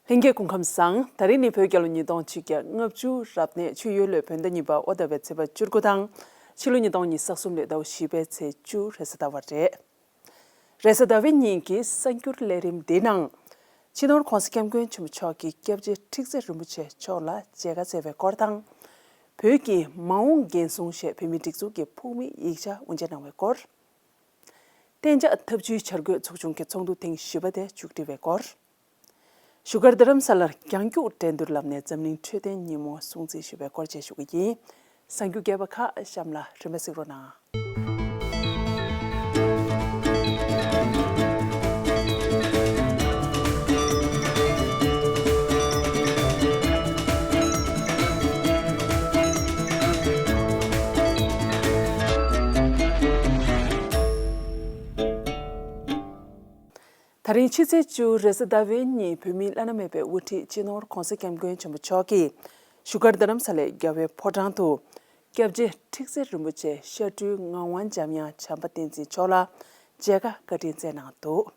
ལྷན་རྒྱས་སྐུ་ཁམས་བཟང། ད་རེས་ནི་བོད་རྒྱལ་ལོ་ཉིས་སྟོང་ཆིག་བརྒྱ་ལྔ་བཅུ་རབ་གནས་ཆུ་ཡོས་ལོའི་བོད་ཟླ་གཉིས་པ་ཨོ་ད་པའི་ཚེས་པ་བཅུ་དགུ་དང། ཕྱི་ལོ་ཉིས་སྟོང་ཉིས་སྟོང་གསུམ་ལོའི་ཟླ་བ་བཞི་པའི་ཚེས་བཅུ་རེས་གཟའ་ཟླ་བ་རེད། རེས་གཟའ་ཟླ་བའི་ཉིན་གྱི་གསར་འགྱུར་ལས་རིམ་འདིའི་ནང། ཕྱི་ནོར་གོང་ས་སྐྱབས་མགོན་ཆེན་པོ་མཆོག་གིས་སྐྱབས་རྗེ་ཁྲི་བརྩེགས་རིན་པོ་ཆེ་མཆོག་ལ་མཇལ་ཁ་བསྩལ་བའི་སྐོར་དང། བོད་ཀྱི་མ་འོངས་འགན་སྲུང་ཞེས་བོད་མིའི་སྒྲིག་འཛུགས་ཀྱི་ཕུགས་དམིགས་ཡིག་ཆ་དབུ་འབྱེད་གནང་བའི་སྐོར། གཏན་འཇགས་འཐབ་ཇུས་འཆར་འགོད་ཚོགས་ཆུང་གི་ཚོགས་འདུ་ཐེངས་བཞི་པ་དེ་མཇུག་སྒྲིལ་བའི་སྐོར། བཞུགས་སྒར་རྡ་རམ་ས་ལར་རྒྱང་རྒྱུག་འགྲན་བསྡུར་ལམ་ནས་འཛམ་གླིང་འཕྲོད་བསྟེན་ཉིན་མོ་སྲུང་བརྩི་ཞུ་བའི་སྐོར་བཅས་ཞུ་གི་ཡིན། གསར་འགྱུར་རྒྱས་པ་ཁ་བཤམས་ལ་རིན་པ་གཟིགས་རོགས་གནང། ད་རིང་ཕྱི་ཚེས་བཅུ་རེས་གཟའ་ཟླ་བའི་ཉིན་བོད་མིའི་བླ་ན་མེད་པའི་དབུ་ཁྲིད་སྤྱི་ནོར ྋགོང་ས ྋསྐྱབས་མགོན་ཆེན་པོ་མཆོག་གིས་བཞུགས་སྒར་རྡ་རམ་ས་ལའི་རྒྱལ་བའི་ཕོ་བྲང་དུ། སྐྱབས་རྗེ་ཁྲིག་སེ་རིན་པོ་ཆེ་ཤར་སྤྲུལ་ངག་དབང་འཇམ་དབྱངས་བྱམས་པ་བསྟན་འཛིན་མཆོག་ལ་མཇལ་ཁ་བཀའ་དྲིན་བསྩལ་གནང་འདུག།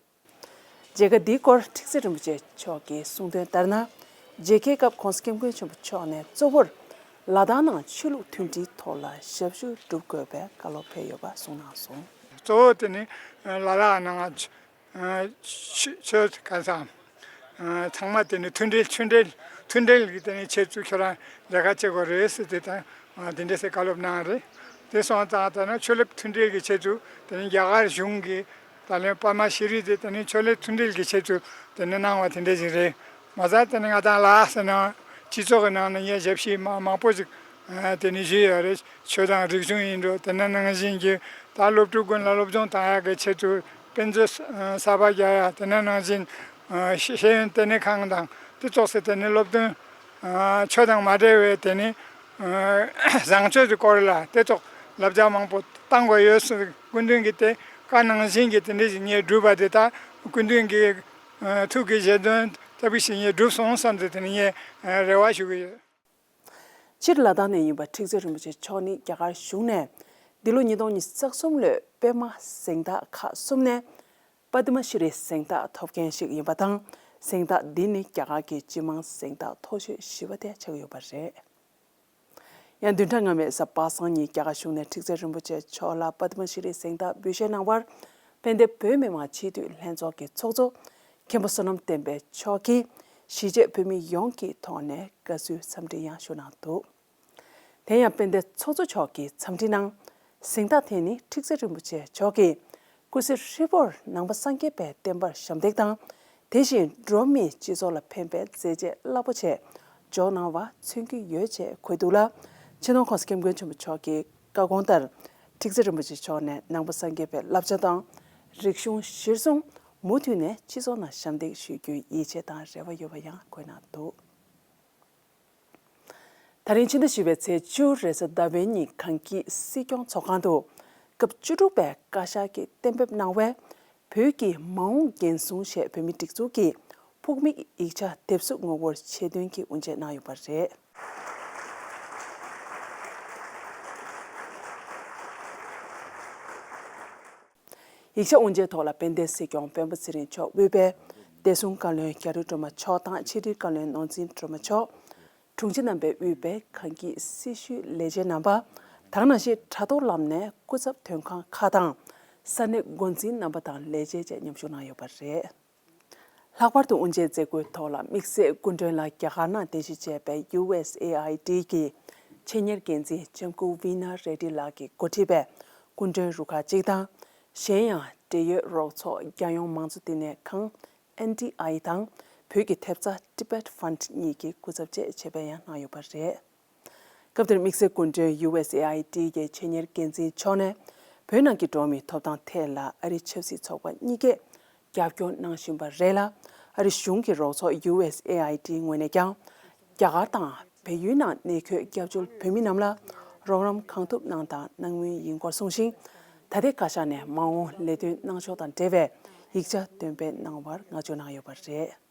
མཇལ་ཁ་འདིའི་སྐོར་ཁྲིག་ཙེ་རིན་པོ་ཆེ་མཆོག་གིས་གསུང་དོན་ལྟར་ན། མཇལ་ཁའི་སྐབས་ཁོང་སྐྱབས་མགོན་ཆེན་པོ་མཆོག་ནས་གཙོ་བོར་ལ་དྭགས་ནང་ཆོས་ལུགས་མཐུན་སྒྲིལ་ཐོག་ལ་ཞབས་ཞུ་བསྒྲུབ་དགོས་པའི་བཀའ་སློབ་ཕེབས་ཡོད་པ་གསུངས་གནང་སོང། གཙོ་བོ་དེ་ནི་ལ་དྭགས་ནང་ཆོས་སྐལ་བཟང། ཚང་མ་དེ་ནི་མཐུན་སྒྲིལ་ཆོས་འབྲེལ་མཐུན་སྒྲིལ་གྱི་དེ་ནི་ཆེད་བཙུགས་ཁྱོད་རང་མཇལ་ཁ་བྱེད་དགོས་རེད་ཟེར་དེ་དང་དེ་འདྲ་ཟེར་བཀའ་སློབ་གནང་རེད། དེ་སོང་ཙང་ད་ནང་ཆོས་ལུགས་མཐུན་སྒྲིལ་གྱི་ཆེད་དུ་དེ་ནི་རྒྱ་གར་གཞུང་གི་ད་ལན་པར་མ་ཤེས་རིག་དེ་དེ་ནས་ཕྱོགས་ལས་མཐུན་འབྲེལ་གྱི་ཆེད་དུ་དེ་ནས་གནང་བ་དེ་འདྲས་ཞིག་རེད་མ་རྩ་དེ་ནས་ང་དང་ལ་ཨ་སི་ནང་སྤྱི་ཚོགས་ཀྱི་ནང་ནས་ངས་ཞབས་ཕྱི་མ་མང་པོ་ཞིག་དེ་ནས་ཞུས་ཡོད་རེད་ཆོས་དང་རིག་གཞུང་ཡིན་འགྲོ་དེ་ནས་ནང་བཞིན་གྱི་ད་སློབ་ཕྲུག་ཀུན་ལ་སློབ་སྦྱོང་དང་ཡག་གི་ཆེད་དུ་དཔེ་མཛོད་གསར་པ་རྒྱག་ཡ་དེ་ནས་ནང་བཞིན་ཤེས་ཡོན་ལྟེ་གནས་ཁང་དང་དེ་གཏོགས་སའི་དེ་ནས་སློབ་སྟོན་ཆོས་དང་མ་འབྲེལ་བའི་དེ་ནས་བཟང་སྤྱོད་ཀྱི་སྐོར་ལ་དེ་གཏོགས་ལབ་རྒྱག་མང་པོ་བཏང་དགོས་ཡོད་སྲིད། ཀུན་མཁྱེན་གྱིས་དེ་ཀ་ནང་བཞིན་གྱི་དེ་འདྲའི་བཞིན་ཉིད་བསྒྲུབས་པ་དེ་དག་ཀུན་མཁྱེན་གྱི་ཐུགས་ཀྱི་བཞེད་དོན་ལྟ་བུའི་བཞིན་ཉིད་བསྒྲུབས་སོང་བསམ་སྟེ་དེ་ནི་ངས་རེ་བ་ཞུ་གི་ཡོད། སྤྱིར་ལ་དྭགས་ནས་ཡིན་པ་ཁྲིག་ཙེ་རིན་པོ་ཆེ་མཆོག་ནི་རྒྱ་གར་གཞུང་ནས་འདི་ལོ་ཉིས་སྟོང་ཉིས་བརྩེགས་གསུམ་ལོའི་པད་མ་གཟེངས་རྟགས་ཁག་གསུམ་ནས Padma Shri གཟེངས་རྟགས་ཐོབ་མཁན་ཞིག་ཡིན་པ་དང་གཟེངས་རྟགས་འདི་ནི་རྒྱ་གར་གྱི་སྤྱི་དམངས་གཟེངས་རྟགས་མཐོ་ཤོས་བཞི་བ་དེ་ཆགས་ཡོད་པ་རེད། ཡང་བདུན་ཕྲག་སྔ་མའི་གཟའ་པ་སངས་ཉིན་རྒྱ་གར་གཞུང་ནས་ཁྲིག་ཙེ་རིན་པོ་ཆེ་མཆོག་ལ་པདྨ་ཤེས་རིག་གཟེངས་རྟགས་འབུལ་བཞེས་གནང་བར། དཔལ་ལྡན་བོད་མི་མང་སྤྱི་འཐུས་ལྷན་ཚོགས་ཀྱི་ཚོགས་གཙོ་མཁན་པོ་བསོད་ནམས་བསྟན་པའི་མཆོག་གིས་གཞིས་བྱེས་བོད་མི་ཡོངས་ཀྱི་ཐོག་ནས་དགའ་བསུའི་འཚམས་འདྲི་ཡང་ཞུ་གནང་འདུག་དེ་ཡང་དཔལ་ལྡན་ཚོགས་གཙོ་མཆོག་གིས་འཚམས་འདྲི་ནང་གཟེངས་རྟགས་དེ་ནི་ཁྲིག་ཙེ་རིན་པོ་ཆེ་མཆོག་གིས་སྐུ་ཚེ་ཧྲིལ་པོར་ནང་པ་སངས་རྒྱས་པའི་བསྟན་པར་ཞབས་འདེགས་དང་དེ་བཞིན་འགྲོ་མིའི་སྤྱི་ཚོགས་ལ་ཕན་པའི་མཛད་རྗེས་རླབས་པོ་ཆེ་འཇོག་གནང་བ་མཚོན་གྱི་ཡོད་ཅེས་འཁོད་འདུག་ལ། ཕྱི་ནང་ཁོངས་སུ་སྐྱབས་མགོན་ཆེན་པོ་མཆོག་གི་བཀའ་དགོངས་ལྟར་ཁྲིག་ཙེ་རིན་པོ་ཆེ་མཆོག་ནས་ནང་པ་སངས་རྒྱས་པའི་བསླབ་བྱ་དང་རིག་གཞུང་གཞིར་བཟུང་མུ་མཐུད་ནས་སྤྱི་ཚོགས་ནང་ཞབས་འདེགས་ཞུ་རྒྱུའི་ཡིད་ཆེས་དང་རེ་བ་ཡོད་པ་ཡང་འཁོད་གནང་འདུག། ད་རིང་ཕྱི་ཟླ་བཞི་བའི་ཚེས་བཅུ་རེས་གཟའ་ཟླ་བའི་ཉིན་གངས་སྐྱིད་སྲིད་སྐྱོང་ཚོགས་ཁང་དུ་སྐབས་བཅུ་དྲུག་པའི་བཀའ་ཤག་གིས་གཏན་འབེབས་གནང་བའི་བོད་ཀྱི་མ་འོངས་འགན་སྲུང་ཆེད་བོད་མིའི་སྒྲིག་འཛུགས་ཀྱི་ཕུགས་དམིགས་ཡིག་ཆ་དེབ་གཟུགས་ངོ་བོར་ཆེད་འདོན་གྱིས་དབུ་འབྱེད་གནང་ཡོད་པ་རེད། ཡིག་ཆ་དབུ་འབྱེད་ཐོག་ལ་དཔལ་ལྡན་སྲིད་སྐྱོང་བོན་པོ་ཚེ་རིང་མཆོག་དབུས་དཔལ་ལྡན་སྲུང་བཀའ་བློན་རྒྱ་རི་སྒྲོལ་མ་མཆོག་དང་ཕྱི་དྲིལ་བཀའ་བློན་ནོར་འཛིན་སྒྲོལ་མ་མཆོག། དྲུང་ཆེ་རྣམ་པས་དབུས་དཔལ་གངས་སྐྱིད་སྲི་ཞུའི་ལས་བྱེད་རྣམ་པ་དང་ནང་ཆེས་དྲ་ཐོག་ལམ་ནས་སྐུ་ཚབ་དོན་ཁང་ཁག་དང་ས་གནས་འགོ་འཛིན་རྣམ་པ་དང་ལས་བྱེད་བཅས་མཉམ་ཞུགས་གནང་ཡོད་པ་རེད། ལྷག་པར་དུ་དབུ་འབྱེད་མཛད་སྒོའི་ཐོག་ལ་དམིགས་བསལ་སྐུ་མགྲོན་ལ་རྒྱ་གར་ནང་རྟེན་གཞི་བྱས་པའི USAID ཀྱི་ཆེད་གཉེར་འགན་འཛིན་ལྕམ་སྐུ Veena Reddy ལགས་ཀྱི་མགོ་ཁྲིད་པའི་སྐུ་མགྲོན་རུ་ཁག་ཅིག་དང། གཞན་ཡང་འབྲེལ་ཡོད་རོགས་ཚོགས་རྒྱལ་ཡོངས་མང་གཙོ་བསྟི་གནས་ཁང། NDI། དང་བོད་ཀྱི་ཐེབས་རྩ Tibet Fund གཉིས་ཀྱི་སྐུ་ཚབ་བཅས་བྱེད་པའི་ཡང་གནང་ཡོད་པ་རེད། སྐབས་དེར་དམིགས་བསལ་སྐུ་མགྲོན USAID ཀྱི་ཆེད་གཉེར་འགན་འཛིན་མཆོག་ནས་བོད་ནང་གི་འགྲོ་བ་མིའི་ཐོབ་ཐང་ཐད་ལ་ཨ་རིའི་ཆབ་སྲིད་ཚོགས་པ་གཉིས་ཀས་རྒྱབ་སྐྱོར་གནང་བཞིན་པ་རེད་ལ། ཨ་རི་གཞུང་གི་རོགས་ཚོགས USAID ངོས་ནས་ཀྱང་རྒྱ་གར་དང་བལ་ཡུལ་ནང་གནས་འཁོད་སྐྱབས་བཅོལ་བོད་མི་རྣམས་ལ་རོགས་རམ་གང་ཐུབ་གནང་དང་གནང་མུས་ཡིན་སྐོར་གསུངས་ཤིང། ད་ལྟའི་བཀའ་ཤག་ནས་མ་འོངས་ལས་དོན་གནང་ཕྱོགས་དང་འབྲེལ་བའི་ཡིག་ཆ་འདོན་སྤེལ་གནང་བར་བསྔགས་བརྗོད་གནང་ཡོད་པ་རེད།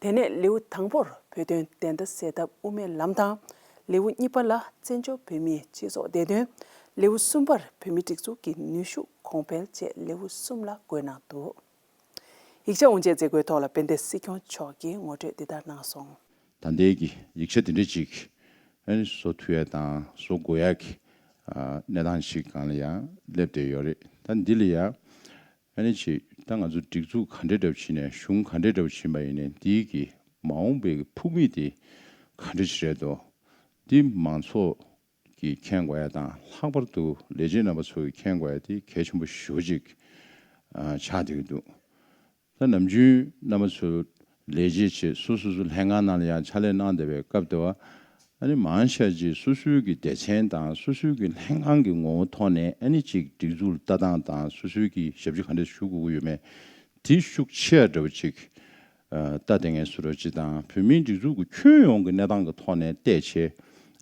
དེ་ནས་ལེའུ་དང་པོར་བོད་དོན་བདེན་མཐའ་གསལ་ཐབས་དབུ་མའི་ལམ་དང། ལེའུ་གཉིས་པ་ལ་བཙན་བྱོལ་བོད་མིའི་སྤྱི་ཚོགས་བདེ་དོན། ལེའུ་གསུམ་པར་བོད་མི་སྒྲིག་འཛུགས་ཀྱི་ནུས་ཤུགས་གོང་འཕེལ་བཅས་ལེའུ་གསུམ་ལ་བཀོད་གནང་འདུག་ཡིག་ཆ་དབུ་འབྱེད་མཛད་སྒོའི་ཐོག་ལ་དཔལ་ལྡན་སྲིད་སྐྱོང་མཆོག་གིས་ངོ་སྤྲོད་འདི་ལྟར་གནང་སོང། ད་ལྟའི་གི་ཡིག་ཆ་དེ་འདྲ་ཅིག་བཟོ་འཐུས་ཡག་དང་བཟོ་དགོས་ཡག་གི་གནས་སྟངས་ཤིག་གང་ལ་ཡང་སླེབས་བསྡད་ཡོད་རེད་ད་འདི་ལ་ཡང་ཨ་ནི་ཆེ། ད་ང་ཚོ་སྒྲིག་འཛུགས་ག་འདྲས་འདྲ་བོ་བྱེད་ནས་གཞུང་ག་འདྲས་འདྲ་བོ་བྱེད་པ་ཡིན་ནས་འདིའི་གི་མ་འོངས་པའི་གི་ཕུགས་དམིགས་དེ་ག་འདྲས་ཆེ་རེད་དོ། འདི་མང་ཚོགས་ཀྱིས་མཁྱེན་དགོས་ཡ་དང་ལྷག་པར་དུ་ལས་བྱེད་རྣམ་པ་ཚོ་གིས་མཁྱེན་དགོས་ཡ་དེ་གལ་ཆེན་པོ་ཞོ་གཅིག་ཆགས་བསྡད་ཀྱི་འདུག་ད་ནམ་རྒྱུན་རྣམ་པ་ཚོས་ལས་བྱེད་ཆེད་སུ་སོ་སོ་ལྷན་ཁང་ནང་ལ་ཡང་ཕྱག་ལས་གནང་བདེ་བའི་སྐབས་དེ་བ་ནི་མང་ཤས་ཀྱིས་སོ་སོའི་གི་སྡེ་ཚན་དང་སོ་སོའི་གི་ལྷན་ཁང་གི་ངོ་བོ་ཐོག་ནས་ཨ་ནི་ཅིག་སྒྲིག་འཛུགས་ལ་ལྟ་སྟངས་དང་སོ་སོའི་གི་ཞབས་ཕྱི་ག་འདྲ་ཞུ་དགོས་ཀྱི་ཡོད་མེད་དེ་ཤུགས་ཆེ་ཡ་འདྲ་བ་ཅིག་ལྟ་བདེ་ངེས་སུ་རོ་ཅིག་དང་བོད་མིའི་སྒྲིག་འཛུགས་གི་ཁྱོན་ཡོངས་གི་གནས་སྟངས་གི་ཐོག་ནས་བལྟས་ཆེ་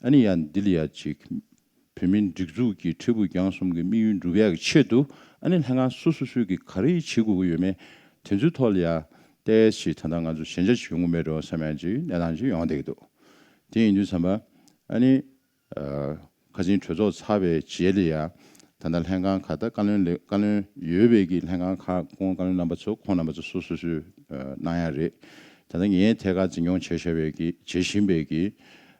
ཨ་ནི་ཡ་འདི་ལ་ཡ་ཅིག་བོད་མིའི་སྒྲིག་འཛུགས་ཀྱི་ཁྲི་པུའུ་རྒྱང་གསུམ་གྱི་དམིགས་ཡུལ་འགྲུབ་ཡག་གི་ཆེད་དུ་ཨ་ནེ་ལྷན་ཁང་སོ་སོ་སོས་ཀྱིས་ག་རེ་བྱེད་དགོས་ཀྱི་ཡོད་མེད་དེ་ཚོའི་ཐོག་ལ་ཡང་ཏས་ཞིག་ད་ལྟ་ང་ཚོ་ཞན་ཆ་ཞིག་ཡོང་གི་མེད་འགྲོ་བསམ་ཡང་ཅིག་གནས་སྟངས་ཅིག་ཡོང་བསྡད་ཀྱི་འདུག་དེ་ཡིན་དུས་བསམ་པ་ཨ་ནེ། ཁ་ཆེན་གྲོས་ཚོགས་ཚར་བའི་རྗེས་ལ་ཡང་ད་ལྟ་ལྷན་ཁང་ཁག་ད་བཀའ་བློན་ལས་བཀའ་བློན་ཡོད་པའི་ཀྱི་ལྷན་ཁང་ཁག་ཁོང་བཀའ་བློན་རྣམ་པ་ཚོ་ཁོང་རྣམ་པ་ཚོ་སོ་སོ་སོས་གནང་ཡག་རེད་ད་ལྟ་ངས་ཐད་ཀར་འཛིན་སྐྱོང་བྱས་ཤར་བའི་ཀྱི་བྱེད་བཞིན་པའི་ཀྱི་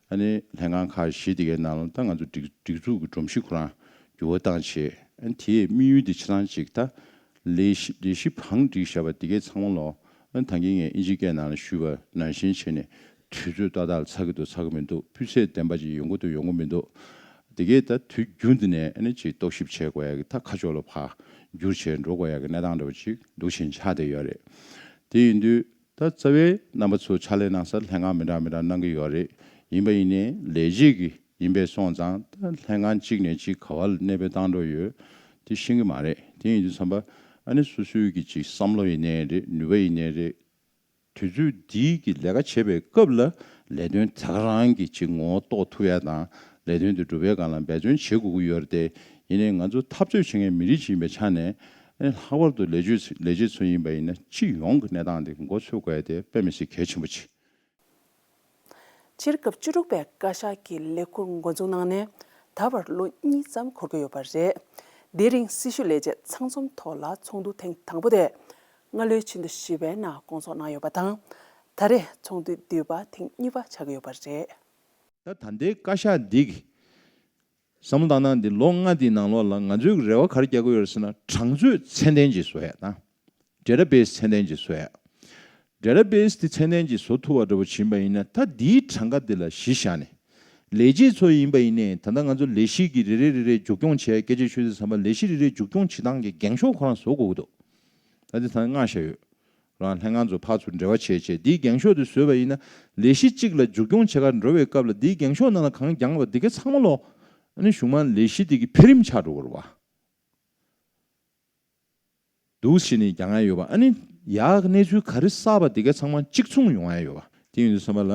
ཨ་ནི་ལྷན་ཁང་ཁག་བཞི་དེ་གའི་ནང་ལ་ད་ང་ཚོ་སྒྲིག་འཛུགས་ཀྱི་སྒྲོམ་གཞི་ཁོ་རང་འགྱུར་བ་བཏང་བྱས། དེས་དམིགས་ཡུལ་དེ་ཆ་ཚང་གཅིག་ད། ལས་གཞི་བང་སྒྲིག་བྱས་པ་དེ་གའི་ཚང་མ་ལོ། ད་ངེད་ངས་ཨིན་ཇི་སྐད་ནང་ལ་ཞུས་པ་ནང་བཞིན་བྱས་ནས་དུས་ཚོད་ཏག་ཏག་ལ་ཚར་གི་འདུག་ཚར་གི་མི་འདུག་སྤུས་ཚད་ལྡན་པ་ཅིག་ཡོང་གི་འདུག་ཡོང་གི་མི་འདུག་དེ་གས་ད་དུས་རྒྱུན་དུ་ནས་ཨ་ནི་ཅིག་རྟོག་ཞིབ་བྱེད་དགོས་ཡག་གི་ད་ཁ་ཕྱོགས་ལ་བར་འགྱུར་བྱས་འགྲོ་དགོས་ཡག་གི་གནས་སྟངས་འདྲ་བ་ཅིག་འདུག་ཞེས་འཆར་བསྡད་ཡོད་རེད། དེ་ཡིན་དུས་ད་རྩ་བའི་རྣམ་པ་ཚོ་ཕྱག་ལས་གནང་སར་ལྷན་ཁང་མི་འདྲ་མི་འདྲ་གནང་གི་ཡོད་རེད་ཡིན་པ་ཡིན་ནའི་ལས་བྱེད་ཀྱི་ཡིན་པས་སོང་ཙང་ད་ལྷན་ཁང་གཅིག་ནས་གཅིག་ག་བ་ལ་གནས་སྤོས་བཏང་འགྲོ་ཡོད་དེ་ཤེས་གི་མ་རེད་དེ་ཡིན་དུས་འཚམ་པ་ཨ་ནི་སུ་སུའི་གི་ཅིག་བསམ་བློ་ཡིན་ནའི་རེད་ནུས་པ་ཡིན་ནའི་རེད་དུས་ཚོད་འདིའི་གི་ལས་ཀ་བྱེད་པའི་སྐབས་ལ་ལས་དོན་ད་ག་རང་གི་ཅིག་ངོ་གཏོགས་ཐུབ་ཡ་དང་ལས་དོན་དེ་འགྲུབ་ཡ་གང་ལ་འབད་བརྩོན་བྱེད་དགོས་གི་ཡོད་རེད་དེ་ཡིན་ནའི་ང་ཚོ་འཐབ་རྩོད་བྱེད་མཁན་མི་རིགས་ཅིག་ཡིན་པའི་ཆ་ནས་ཨེ། ལྷག་པར་དུ་ལས་བྱེད་ཚོ་ཡིན་པ་ཡིན་ན་སྤྱི་ཡོངས་ཀྱི་གནས་སྟངས་འདི་མགོ་ཚོས་དགོས་ཏེ་དཔེ་མི་སྲིད་གལ་ཆེན་པོ་ཆེ། སྤྱིར་སྐབས་བཅུ་དྲུག་པའི་བཀའ་ཤག་གི་ལས་འཁུར་མགོ་འཛུགས་གནང་ནས་ད་བར་ལོ་གཉིས་ཙམ་འཁོར་གྱི་ཡོད་པ་རེད། དེའི་རིང་སྲི་ཞུ་ལས་བྱེད་ཚང་འཛོམས་ཐོག་ལ་ཚོགས་འདུ་ཐེངས་དང་པོ་དེ་སྔ་ལོའི་ཕྱི་ཟླ་བཞི་པའི་ནང་སྐོང་ཚོགས་གནང་ཡོད་པ་དང། ད་རེས་ཚོགས་འདུ་བསྡུས་པ་ཐེངས་གཉིས་པ་ཆགས་ཀྱི་ཡོད་པ་རེད། ད་ལྟའི་བཀའ་ཤག་འདི་གིས་བསམ་བློ་བཏང་ན་འདི་ལོ་ལྔ་འདིའི་ནང་ལོགས་ལ་ང་ཚོའི་རེ་བ་ག་རེ་རྒྱག་དགོས་ཡོད་ཟེར་ན་གྲངས་ཚོད་ཚད་ལྡན་གྱིས་བཟོ་ཡག་དང། འབྲེལ་ར་བེས་ཚད་ལྡན་གྱིས་བཟོ་ཡག། འབྲེལ་ར་བེས་དེ་ཚད་ལྡན་གྱིས་བཟོ་ཐུབ་པ་འདྲ་བོ་བྱིན་པ་ཡིན་ན་ད་འདིའི་གྲངས་ཀ་འདི་ལ་གཞི་བཞག་ནས། ལས་བྱེད་ཚོ་ཡིན་པ་ཡིན་ནས་ད་ལྟ་ང་ཚོ་ལས་གཞི་གི་རེ་རེ་རེ་རེ་མཇུག་སྐྱོང་བྱས་སྐད་ཆ་ཤོད་ཚེ་བསམ་པ་ལས་གཞི་རེ་རེ་མཇུག་སྐྱོང་བྱེད་སྟངས་ཀྱི་འགེངས་ཤོག་ཁོ་རང་བཟོ་དགོས་ཀྱི་འདུག་ད་དེ་ད་ནས་བསྔགས་བཞག་ཡོད། རང་ལྷན་ང་ཚོ་ཕར་ཚུར་འབྲེལ་བ་བྱེད་ཆེད་འདིའི་རྒྱང་ཤོག་དེ་བཟོས་པ་ཡིན་ན། ལས་གཞི་གཅིག་ལ་མཇུག་སྐྱོང་བྱེད་ཁར་འགྲོ་བའི་སྐབས་ལ་འདིའི་རྒྱང་ཤོག་ནང་ལ་གང་རྒྱང་བ་འདི་ག་ཚང་མ་ལོག། ཨ་ནི་གཞུང་མང་ལས་གཞི་འདི་གི་འཕེལ་རིམ་ཆགས་འགྲོ་གོ་ར། འདུག་ཞེས་ནི་རྒྱང་ཨེ་ཡོད་པ་ཨ་ནི། ཡག་གནས་ཚུལ་ག་རི་གསར་བ་འདི་ག་ཚང་མ་གཅིག་མཚུངས་ཡོང་ཨེ་ཡོད་པ། དེ་ཡིན་དུ་བསམ་པ་ལ།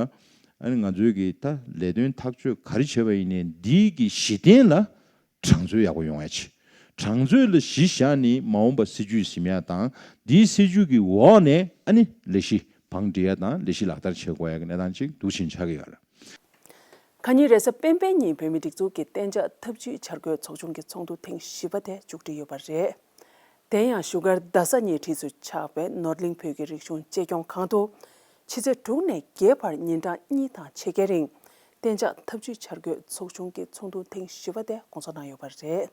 ཨ་ནི་ང་ཚོའི་གི་ད་ལས་དོན་ཐག་གཅོད་ག་རི་བྱེད་པ་ཡིན་ནས་འདིའི་གི་གཞི་རྟེན་ལ་གྲངས་འཛོལ་ཡག་པོ་ཡོང་བའི་ཆེད་གྲངས་འཛོལ་ལ་གཞི་བཞག་ནས་མ་འོངས་པ་སྲིད་ཇུས་གཞི་མེད་དང་དེའི་སྲིད་ཇུས་ཀྱི་འོག་ནས་ཨ་ནི་ལས་གཞི་བང་སྒྲིག་ཡས་དང་ལས་གཞི་ལག་བསྟར་བྱེད་དགོས་ཡས་ཀྱི་གནས་སྟངས་གཅིག་འདུག་ཕྱིན་ཆགས་ཀྱི་ཡོད་རེད། ཁ་ཉིན་རེས་གཟའ་སྤེན་པའི་ཉིན་བོད་མིའི་སྒྲིག་འཛུགས་ཀྱི་གཏན་འཇགས་ཐབས་ཇུས་འཆར་འགོད་ཚོགས་ཆུང་གི་ཚོགས་འདུ་ཐེངས་བཞི་པ་དེ་མཇུག་སྒྲིལ་ཡོད་པ་རེད། དེ་ཡང་བཞུགས་སྒར་རྡ་ས་ཉེ་འཁྲིས་སུ་ཆགས་པའི་ནོར་གླིང་བོད་ཀྱི་རིག་གཞུང་གཅེས་སྐྱོང་ཁང་དུ། ཕྱི་ཚེས་དྲུག་ནས་བརྒྱད་བར་ཉིན་གྲངས་གཉིས་དང་ཕྱེད་ཀའི་རིང་གཏན་འཇགས་ཐབས་ཇུས་འཆར་འགོད་ཚོགས་ཆུང་གི་ཚོགས་འདུ་ཐེངས་བཞི་བ་དེ་སྐོང་ཚོགས་གནང་ཡོད་པ་རེད།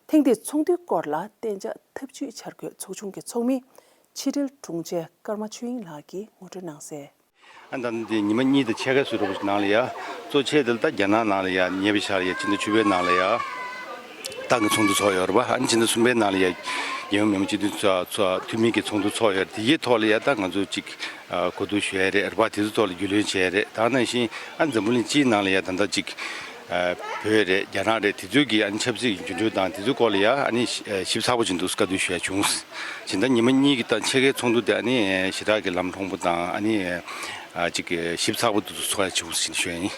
ཐེངས་འདིའི་ཚོགས་འདུའི་སྐོར་ལ་གཏན་འཇགས་ཐབས་ཇུས་འཆར་འགོད་ཚོགས་ཆུང་གི་ཚོགས་མི་ཕྱི་དྲིལ་དྲུང་ཆེ་ཀརྨ་ཆོས་དབྱིངས་ལགས་ཀྱིས་ངོ་སྤྲོད་གནང་གསལ། ཨ་མདའ་ནི་དེ་ཉི་མ་གཉིས་དང་ཕྱེད་ཀའི་སུད་རོ་བོ་ཆུ་ནང་ལ་ཡ། གཙོ་ཆེ་དེ་ལ་ད་རྒྱ་ནག་ནང་ལ་ཡ། ཉེ་བའི་ཆར་ཡ་ཅི་མདའ་ཆུ་བོའི་ནང་ལ་ཡ། ཏང་གི་ཚོགས་འདུ་འཚོགས་ཡོད་རེད་པ། ཨ་ནི་ཕྱི་ཟླ་གསུམ་པའི་ནང་ལ་ཡ་རྒྱལ་ཡོངས་མི་དམངས་སྤྱི་འཐུས་ཚོགས་འཐུས་མི་གི་ཚོགས་འདུ་འཚོགས་ཡོད་རེད། དེ་གི་ཐོག་ལ་ཡ་ཏང་ང་ཚོ་གཅིག་གོ་བསྡུར་ཞུ་ཡ་རེད་རེད་པ། དེ་ཚོའི་ཐོག་ལ་རྒྱུས་ལོན་བྱས་ཡ་རེད། དང་ནང་བཞིན་ཨ་ནི་འཛམ་བུ་གླིང་སྤྱིའི་ནང་ལ་ཡ་ད་ལྟ་གཅིག་བོད་རེད་རྒྱ་ནག་རེད་དེ་ཚོའི་གི་ཨ་ནི་ཆབ་སྲིད་འགྱུར་འགྲོས་དང་དེ་ཚོའི་སྐོར་ལ་ཡ་ཨ་ནི་ཞིབ་ཚགས་པོ་བྱེད་འདུག་བཀའ་བསྡུར་ཞུ་ཡ་བྱུང། བྱས་མདའ་ཉི་མ་གཉིས་གི་སྟངས་ཕྱེད་ཀའི་ཚོགས་འདུ་དེ་ཨ་ནི་ཞི་དྲག་གི་ལམ་ལྷོང་པོ་དང་ཨ་ནི་གཅིག་ཞིབ་ཚགས་པོ་འདུག་འཚོགས་ཡ་བྱུང་ཞེས་ཞུ་ཡ་ཡིན།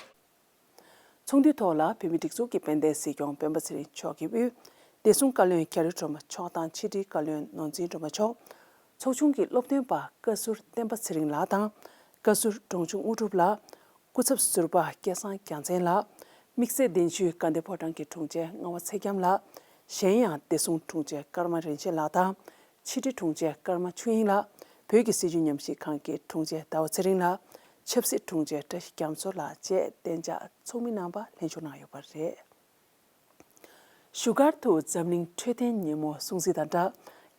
ཚོགས་འདུའི་ཐོག་ལ་བོད་མིའི་སྒྲིག་འཛུགས་ཀྱི་དཔལ་ལྡན་སྲིད་སྐྱོང་སྤེན་པ་ཚེ་རིང་མཆོག་གི་དབུས་བདེ་སྲུང་བཀའ་བློན་གྷ་རི་སྒྲོལ་མ་མཆོག་དང་ཕྱི་དྲིལ་བཀའ་བློན་ནོར་འཛིན་སྒྲོལ་མ་མཆོག། ཚོགས་ཆུང་གི་སློབ་སྟོན་པ་བཀའ་ཟུར་བསྟན་པ་ཚེ་རིང་ལགས་དང་བཀའ་ཟུར་འབྲོང་ཆུང་དངོས་གྲུབ་ལགས། སྐུ་ཚབ་ཟུར་པ་སྐལ་བཟང་རྒྱ་མཚན་ལགས། དམིགས་བསལ་གདན་ཞུའི་དགའ་ལྡན་ཕོ་བྲང་གི་དྲུང་ཆེ་རྔ་བ་ཚེ་རྒྱམ་ལགས། གཞན་ཡང་བདེ་སྲུང་དྲུང་ཆེ་ཀརྨ་རིན་ཆེན་ལགས་དང་ཕྱི་དྲིལ་དྲུང་ཆེ་ཀརྨ་ཆོས་དབྱིངས་ལགས། བོད་ཀྱི་སྲིད་བྱུས་ཉམས་ཞིབ་ཁང་གི་དྲུང་ཆེ་ཟླ་བ་ཚེ་རིང་ལགས། ཆབ་སྲིད་དྲུང་ཆེ་བཀྲ་ཤིས་རྒྱ་མཚོ་ལགས་བཅས་གཏན་འཇགས་ཚོགས་མི་རྣམ་པ་ལྷན་ཞུགས་གནང་ཡོད་པ་རེད། བཞུགས་སྒར་དུ་འཛམ་གླིང་འཕྲོད་བསྟེན་ཉིན་མོ་སྲུང་བརྩི་དང་སྦྲགས་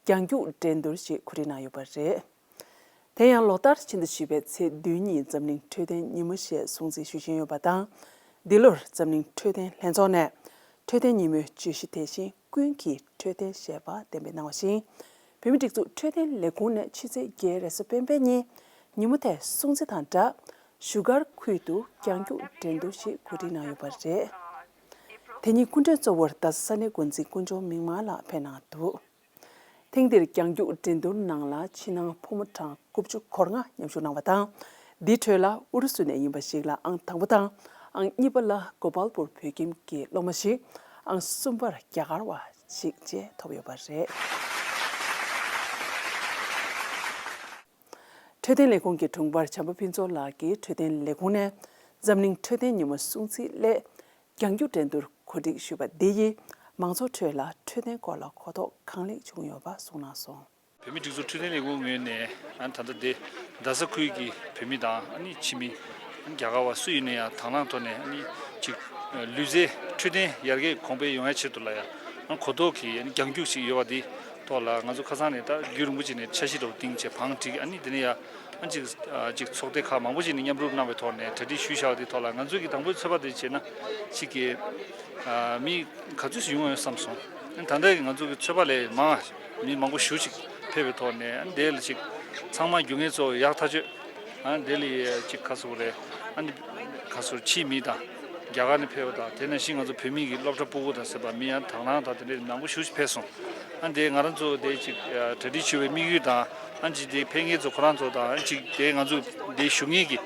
རྒྱང་རྒྱུགས་འགྲན་བསྡུར་ཞིག་གོ་སྒྲིག་གནང་ཡོད་པ་རེད། དེ་ཡང་ལོ་ལྟར་ཕྱི་ཟླ་བཞི་པའི་ཚེས་བདུན་ཉིན་འཛམ་གླིང་འཕྲོད་བསྟེན་ཉིན་མོ་ཞེས་སྲུང་བརྩི་ཞུ་བཞིན་ཡོད་པ་དང། འདི་ལོར་འཛམ་གླིང་འཕྲོད་བསྟེན་ལྷན་ཚོགས་ནས་འཕྲོད་བསྟེན་ཉིན་མོའི་བརྗོད་གཞི་དེ་བཞིན། ཀུན་གྱིས་འཕྲོད་བསྟེན་བྱེད་པར་བདེན་པའི་གནང་བ་བཞིན། བོད་མིའི་སྒྲིག་འཛུགས་འཕྲོད་བསྟེན་ལས་ཁུངས་ནས་ཕྱི་ཚེས་བརྒྱད་རེས་སུ་སྤེན་པའི་ཉིན་ཉིན་མོ་དེ་སྲུང་བརྩི་དང་སྦྲགས་བཞུགས་སྒར་ཁུལ་དུ་རྒྱང་རྒྱུག་འགྲན་བསྡུར་ཞིག་གོ་སྒྲིག་གནང་ཡོད་པ་རེད། དེ་ཉིན་སྐུ་མགྲོན་གཙོ་བོར་རྡ་ས་ས་གནས་འགོ་འཛིན་ཀུན་འབྱུང་མིག་དམར་ལགས་ཕེབས་གནང་འདུག་ཐེངས་འདིར་རྒྱང་རྒྱུག་འགྲན་བསྡུར་ནང་ལ་ཕྱི་ནང་ཕོ་མོ་གྲངས་དགུ་བཅུ་སྐོར་ལྔ་མཉམ་ཞུགས་གནང་བ་དང། འདིའི་ཁྲོད་ལ་ཨུ་རུ་སུ་ནས་ཡིན་པ་ཞིག་ལ་ཨང་དང་པོ་དང་ཨང་གཉིས་པ་ལ་གོ་པཱལ་པུར་བོད་ཁྱིམ་གྱི་སློབ་མ་ཞིག་ཨང་གསུམ་པར་རྒྱ་གར་བ་ཞིག་བཅས་ཐོབ་ཡོད་པ་རེད། འཕྲོད་བསྟེན་ལས་ཁུངས་ཀྱི་དྲུང་འཕར་བྱམས་པ་ཕུན་ཚོགས་ལགས་ཀྱིས་འཕྲོད་བསྟེན་ལས་ཁུངས་ནས་འཛམ་གླིང་འཕྲོད་བསྟེན་ཉིན་མོ་སྲུང་བརྩིའི་སླད་རྒྱང་སྒྱུར་འགྲན་བསྡུར་གོ་སྒྲིག་ཞུས་པ་འདི་ཡིས་མང་ཚོགས་ཁྲོད་ལ་འཕྲོད་བསྟེན་སྐོར་ལ་གོ་རྟོགས་གང་ལེགས་བྱུང་ཡོད་པ་གསུངས་གནང་སོང། བོད་མིའི་སྒྲིག་འཛུགས་འཕྲོད་བསྟེན་ལས་ཁུངས་ངོས་ནས་ད་ལྟ་རྡ་ས་ཁུལ་གྱི་བོད་མི་དང་ཕྱི་མི། རྒྱ་གར་བ་སུ་ཡིན་ན་ཡང་དྭང་བླངས་ཐོག་ནས་གཅིག། ལུས་རྩལ་འཕྲོད་བསྟེན་ཡར་རྒྱས་གོང་འཕེལ་ཡོང་ཡ་ཆེད་དུ་ལ་ཡང་གོ་རྟོགས་ཀྱི་རྒྱང་རྒྱུགས་ཤིག་ཡོད་པ་འདི་ཐོག་ལ་ང་ཚོ་ཁ་སང་ནས་ད་རྒྱུན་རིང་པོ་ཅིག་ནས་འཆར་གཞི་རོགས་ཏིང་ཆེ་བང་བསྒྲིགས་དེ་ནས་ཡ། གཅིག་གཅིག་ཚོགས་སྡེ་ཁག་མང་པོ་ཞིག་ནས་མཉམ་རུབ་གནང་བའི་ཐོག་ནས་གྲ་སྒྲིག་ཞུས་བཞག་དེའི་ཐོག་ལ་ང་ཚོས་ཀྱི་དང་པོའི་ཚོད་དཔག་དེ་བྱས་ན། གཅིག་གི། མི་ག་ཚོད་ཞིག་ཡོང་བ་ཡོད་བསམ་སོང། ད་ལྟ་ཡི་ང་ཚོ་གི་ཚོད་དཔག་ལས་མང། མི་མང་པོ་བཞུགས་ཤིག་ཕེབས་པའི་ཐོག་ནས་དེ་ལ་གཅིག། ཚང་མ་རྒྱུ་ངན་ཚོ་ཡག་ཐག་ཆོད། དེ་ལ་ཡི་གཅིག་ག་སོ་རེད། ག་སོ་ཕྱིའི་མི་དང། རྒྱ་གར་ནས་ཕེབས་པ་དང་དེ་ནང་བཞིན་ང་ཚོ་བོད་མི་གི་སློབ་གྲྭ་སྤུ་གུ་དང་ཟེར་པ་མི་ཡང་དྭགས་ནང་དང་དེ་འདྲའི་མང་པོ་བཞུགས་ཤིག་ཕེབས་སོང། དེ་ང་རང་ཚོ་དེ་གཅིག་གྲ་སྒྲིག་ཞུ་བའི་དམིགས་ཡུལ་དང། ཨང་ཅིག་དེ་ཕན་ངེད་ཚོ་ཁོ་རང་ཚོ་དང་ཨང་ཅིག་དེ་ང་ཚོ་དེ་ཞུ་ངེས་ཀྱི་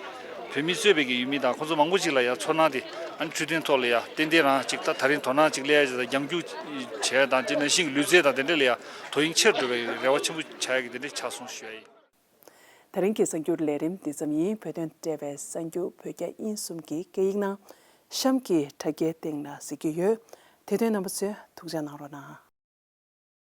བོད་མི་གཙོས་པའི་གི་ཡུལ་མི་དང་ཁོ་ཚོ་མང་པོ་ཅིག་ལ་ཡང་ཚོར་སྣང་དེ་ཨང་འཕྲུལ་སྟོན་ཐོག་ལ་ཡང་ཏན་ཏན་རང་ཅིག་ད་ད་རིང་དོ་སྣང་ཅིག་སླེ་ཡ་ཅིག་དང་རྒྱང་རྒྱུག་བྱེད་ཡ་དང་དེ་ནང་བཞིན་གྱི་ལུས་རྩལ་དང་དེ་འདྲ་ལ་ཡང་དོ་དབྱིངས་ཆེར་འགྲོ་བའི་གི་རེ་བ་ཆེན་པོ་བྱ་ཡ་གི་དེ་འདྲ་ཆགས་སོང་ཞུ་ཡ་ཡིན། ད་རིང་གི་གསར་འགྱུར་ལས་རིམ་འདི་ཙམ་ཡིན་བོད་དོན་འབྲེལ་བའི་གསར་འགྱུར་བོད་རྒྱ་དབྱིན་གསུམ་གྱི་སྐད་ཡིག་ནང་གཤམ་གྱི་དྲ་རྒྱའི་སྟེང་ལ་གཟིགས་ཀྱི་ཡོད་དེ་དོན་རྣམ་པ་ཚོས་ཐུགས་འཇགས་གནང་རོགས་གནང།